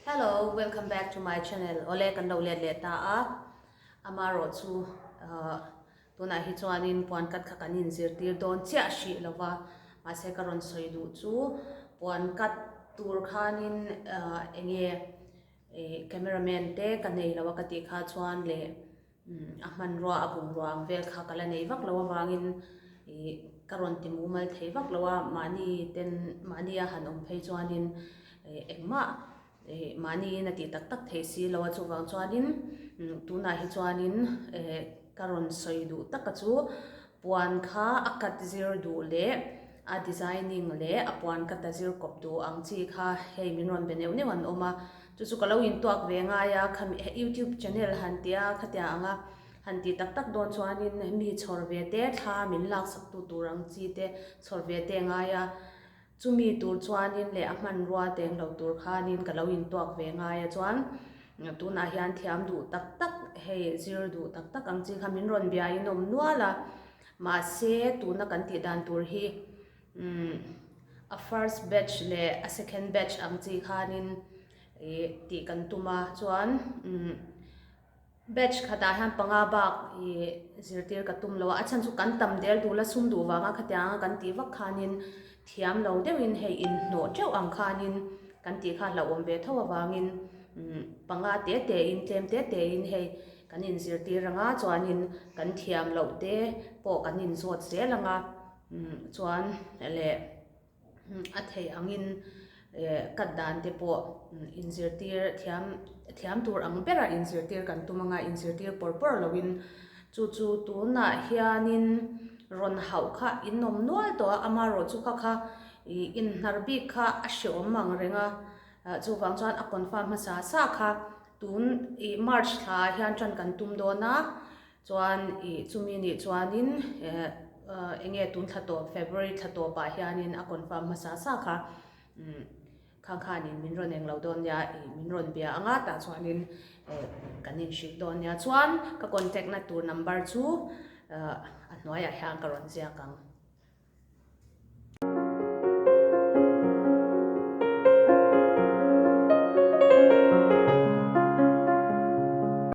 Hello welcome back to my channel awle kan lo let leh ta a ama rawh chu tunah hi chuan in puan cut kha kan in zir tir dawn chiah hrih lo va mahse ka rawn sawi duh chu puan cut tur khan in enge camera man te ka nei lo a ka tih kha chuan le A hmanrua a bungrua ang vel kha ka la nei vak lo avangin i ka rawn ti mumal thei vak lo a, mahni ten mahni a han awm phei chuanin engmah mahniin a tih tak tak thei si lo a, chuvang chuanin tunah hi chuanin ka rawn sawi duh tak a chu puan kha a cut zir duh leh a designing leh a puan cut a zir kawp duh ang chi kha hei min rawn be neuh neuh an awm a. Chu chu ka lo in tuak ve ngai a, kha mi youtube channel han ti a, khatia anga han ti tak tak dawn chuanin mi chhawr ve te thla min laksak tu tur ang chi te chhawr ve te ngai a, chu mi tur chuanin leh a hmanrua teng lo tur khanin ka lo in tuak ve ngai a chuan tunah hian thiam duh tak tak hei zir duh tak tak ang chi kha min rawn biain awm nual a, mahse tuna kan tih dan tur hi. A first batch leh a second batch ang chi khanin ih tih kan tum a, chuan batch khatah hian panga bak ih zirtir ka tum lo a, a chhan chu kan tam del duh la sum duh vanga khatiang a kan tih vak khanin thiam lo deuhin hei inhnawh teuh ang khanin kan tih kha hlauhawm ve tho avangin panga te tein tlem te tein hei kan inzirtir anga chuanin kan thiam loh te pawh kan inzawt zel ang a. Chuan leh a theih angin cut dan te pawh inzirtir thiam thiam tur ang bera inzirtir kan tum anga inzirtir pawr pawr loin chu chu tunah hianin rawn hauh kha inawm nual tawh a amarawh chu kha kha ih inhnar bik kha a hre awm ang reng a chuvang chuan a confirm hmasa sa kha tun ih march thlaah hian tan kan tum dawn a. Chuan i chumi nih chuanin eh eng nge tun thla tawp February thla tawpah hianin a confirm hmasa sa kha umm khang khanin min rawn englo dawn nia i min rawn bia a nga tah chuanin eh kan inhrih dawn nia chuan ka contact na tur number chu ah a hnuaiah hian ka rawn ziak ang.